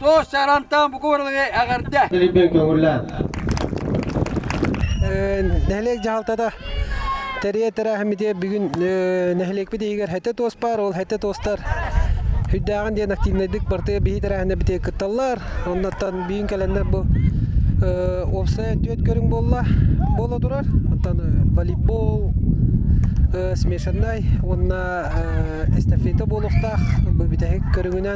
Тоос сарантаан бу куоралыгы эҕэрдэ. Нэһилиэк дьаһалтата тэрийэ тэрээһиммитигэр бүгүн нэһилиэкпит иһигэр хэтэ туос баар, ол хэтэ туостар үрдээҕин диэн активнайдык бартыйа бihи тэрээһинэ битиэ кытталлар. Оннуттан бүгүн кэлэннэр бу уопсай түөт көрүҥ буолла буола турар. Оттон волейбол, смешаннай уонна эстафета буолуохтаах. Бу бүтэһик көрүҥүнэн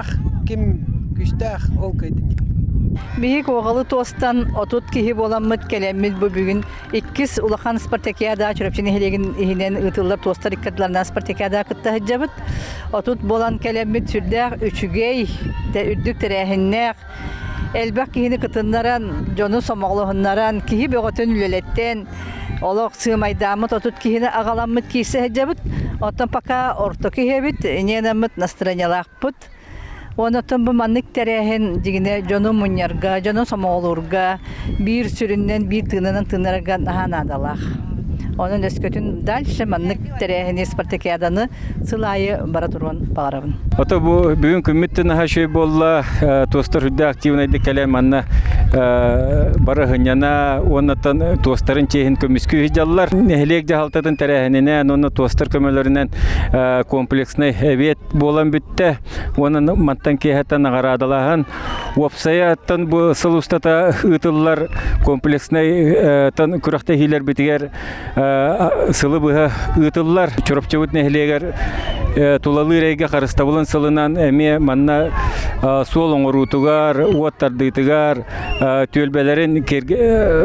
ким күүстээх ол кыайтыни Биһик уоҕалы туостан отут киһи буоламмыт кэлэммит бу бүгүн иккис улахан Спартакиада Чурапчы нэһилиэгин иһинэн ыытыллар туостар иккардыларынан Спартакиада кытта сылдьабыт. Отут буолан кэлэммит сүрдээх үчүгэй, үрдүк тэрээһиннээх, элбэх киһини кытыннаран, дьону сомоҕолоһуннаран, киһи бөҕөтүн үлэлэттэн олох сыымайдааммыт отут киһини аҕаламмыт киирсэ сылдьабыт. Оттон пока орто киһибит, Ненаммыт настроениялаахпыт. Уонна оттон бу маннык тэрээһин дьигинэ дьону мунньарга, дьону сомоҕолуурга, биир сүрүннэн биир тыынынан тыыннарарга наһаа наадалаах. Онон өскөтүн дальше маннык тэрээһини спартакиаданы сыл аайы бара туруон баҕарабын. Ото бу бүгүн күммүт наһаа үчүгэй буолла туостар үрдэ активнайдык кэлэн манна бара хынньана уоннаттан туостарын чиэһин көмүскүү дьаллар. Нэһилиэк дьаһалтатын тэрээһининэн уонна туостар көмөлөрүнэн комплекснай эбиэт буолан бүттэ. Уонна мантан киэһэттэн наҕараадалаһан, уопсайа аттан бу сыл устата ыытыллар комплекснайтан күрэхтэһиилэрбитигэр сылы быһа ыытыллар Чурапчыбыт нэһилиэгэр тулалыыр эйгэ харыстабылын сылынан эмиэ манна суол оҥоруутугар, уот тардыытыгар, түөлбэлэрин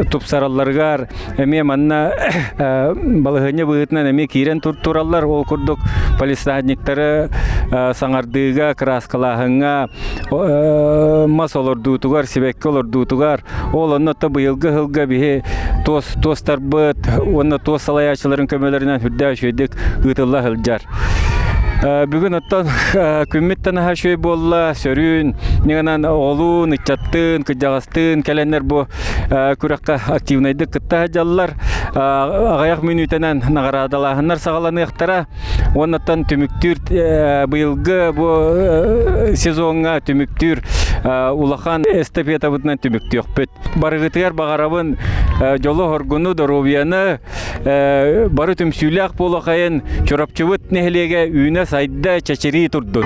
тупсаралларыгар эмиэ манна балаһыанньа быһыытынан эмиэ киирэн туртураллар ол курдук полисадниктары саҥардыыга кырааскалааһыҥҥа мас олордуутугар сибэкки олордуутугар ол онно то быйылгы ыһылга биһи туос туостарбыт уонна туос салайааччыларын көмөлөрүнэн үрдээ үчүөйдүк ыытылла сылдьар бүгүн оттон күммүттэн аһа үчүгэй буолла сөрүүн ньыгынан оҕолуун ыччаттыын кырдьаҕастыын кэлэннэр бу күрэххэ активнайдык кытта сылдьаллар аҕыйах мүнүүтэнэн наҕараадалааһыннар саҕаланыахтара уоннаттан түмүктүүр быйылгы бу сезоҥҥа түмүктүүр улахан эстафетабытынан түмүктүөхпүт барыгытыгар баҕарабын дьолу хоргуну доруобуйаны бары түмсүүлээх буолахайын чурапчыбыт нэһилиэгэ үүнэ сайда чэчирии турдун